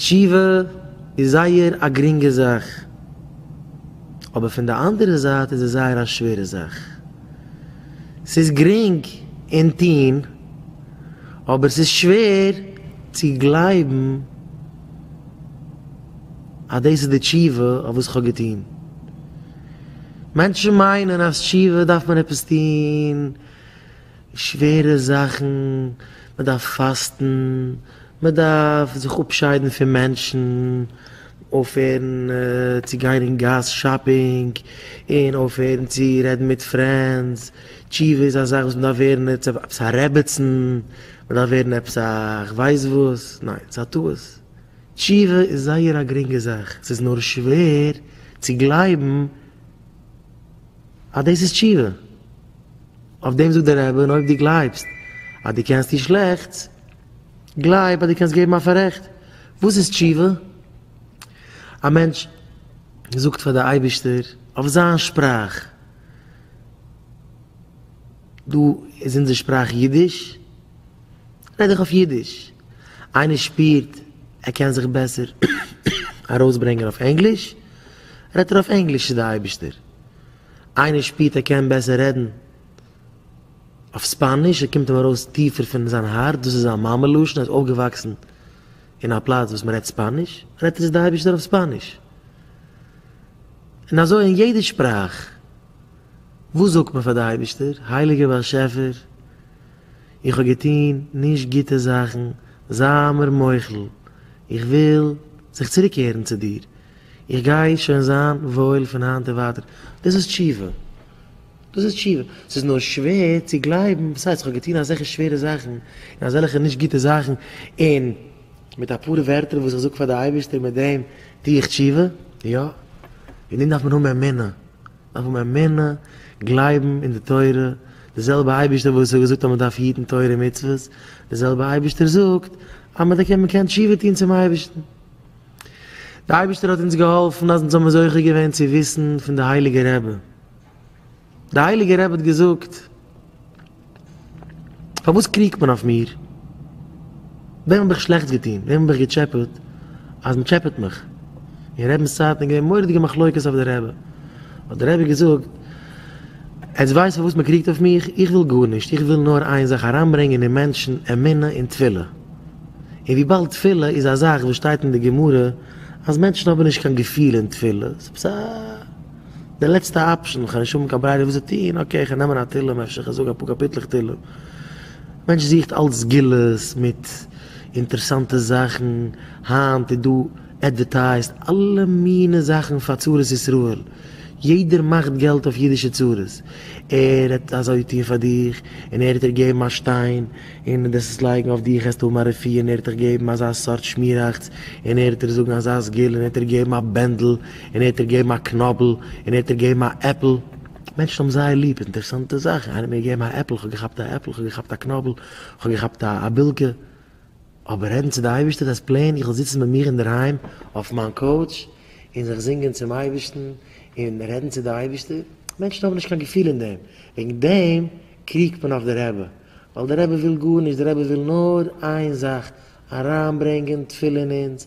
תשובה איז זייער א גרינגע זאך, אבער פון די אנדערע זייט איז עס זייער א שווערע זאך. ס'איז גרינג אין טון, אבער ס'איז שווער צו גלייבן אז דאס איז די תשובה אויף וואס כ'האב געטון. מענטשן מיינען אז תשובה דארף מען עפעס טון. שווערע זאכן, מען דארף פאסטן, מען דארף זיך אפשיידן פון מענטשן, אויפהערן צו גיין אין גאס שאפינג, און אויפהערן צו רעדן מיט פרענדס, תשובה איז א זאך וואס מען דארף ווערן עפעס א רעבעצן, מען דארף ווערן עפעס א כ'ווייס וואס, ניין, ס'איז א טעות, תשובה איז זייער א גרינגע זאך, ס'איז נאר שווער צו גלייבן. אז דאס איז תשובה. אויף דעם זאגט דער רבי, און אויב דו גלייבסט אז דו קענסט טון שלעכטס, גלייב אז דו קענסט געבן א פאררעכט. וואס איז תשובה? א מענטש זאגט פאר די אייבערשטער אויף זיין שפראך, דא איז אונזער שפראך אידיש, רעד איך אויף אידיש. איינער שפירט ער קען זיך בעסער ארויסברענגען אויף ענגליש, רעדט ער אויף ענגליש צו די אייבערשטער. איינער שפירט ער קען בעסער רעדן אויף ספאניש, עס קומט אים ארויס טיפער פון זיין הארץ, דאס איז זיין מאמע לשון, ער איז אויפגעוואקסן אין א פלאץ וואס מען רעדט ספאניש, רעדט ער צו די אייבערשטער אויף ספאניש. און אזוי אין יעדע שפראך, וואס זאגט מען פאר די אייבערשטער, הייליגער באשעפער, איך האב געטון נישט גוטע זאכן, זיי מיר מוחל, איך וויל זיך צוריקקערן צו דיר, איך גיי שוין זיין וואויל פון היינט און ווייטער. דאס איז תשובה. דאס איז תשובה. ס'איז נאר שווער צו גלייבן, וואס הייסט, איך האב געטון אזעלכע שווערע זאכן, און אזעלכע נישט גוטע זאכן, און מיט אפאר ווערטער וואס איך זאג פאר די אייבערשטער מיט דעם טו איך תשובה? יא. אין דעם דארף מען האבן אמונה. מ'דארף האבן אמונה, גלייבן אין די תורה, די זעלבע אייבערשטער וואס האט געזאגט אז מ'דארף היטן תורה און מצוות, די זעלבע אייבערשטער זאגט אז מ'קען תשובה טון צום אייבערשטן. דער אייבערשטער האט אונז געהאלפן אז אונז האבן זוכה געווען צו וויסן פון די הייליגע רבי, די הייליגע רבי האט געזאגט, פארוואס קריגט מען אויף מיר? וועם האב איך שלעכטס געטון? וועם האב איך געטשעפעט אז מען טשעפעט מיך? אין רבינ'ס צייטן איז געווען מורא'דיגע מחלוקת אויף די רבי, האט די רבי געזאגט, עטס ווייסט פארוואס מען קריגט אויף מיך? איך וויל גארנישט, איך וויל נאר איין זאך אריינברענגען אין מענטשן אמונה און תפילה, און וויבאלד תפילה איז א זאך וואס שטייט אין די גמרא אז מענטשן האבן נישט קיין געפיל אין תפילה, ס'איז עפעס א די לעצטע אפשען, כ'האב נישט האבן קיין ברירה וואס צו טון, אקעי כ'על נעמען א תהלים, אפשר כ'זאג אפאר קאפיטלעך תהלים, מענטש זוכט אלץ סגולות מיט אינטערסאנטע זאכן, היינט איז דא עדווערטייזט אלע מיני זאכן פאר צרות ישראל, יעדער מאכט געלט אויף אידישע צרות, ער האט אזוי טון פאר דיך, און ער האט דיר געגעבן א שטיין, און מיט דעס עס לייגן אויף דיך העסטו האבן א רופא און ער העט דיך געבן אזא סארט שמיראכץ און ער העט דיר זאגן אז זייז געל און ער העט דיר געבן א בענדל און ער העט דיר געבן א קנאבל און ער העט דיר געבן א עפל. מענטשן האבן זייער ליב אינטערסאנטע זאכן, איינער האט מיר געגעבן א עפל, כ'האב געכאפט א עפל, כ'האב געכאפט א קנאבל, כ'האב געכאפט א א בילקע. אבער רעדן צו די אייבערשטער דאס פלעין איך זאל זיצן ביי מיר אינדערהיים אויף מיין קאוטש און זיך זינגען צום אייבערשטן און רעדן צו די אייבערשטער, מענטשן האבן נישט קיין געפיל אין דעם, וועגן דעם קריגט מען אויף די רבי, ווייל די רבי וויל גארנישט די רבי וויל נאר איין זאך אריינברענגען תפילה אין אונז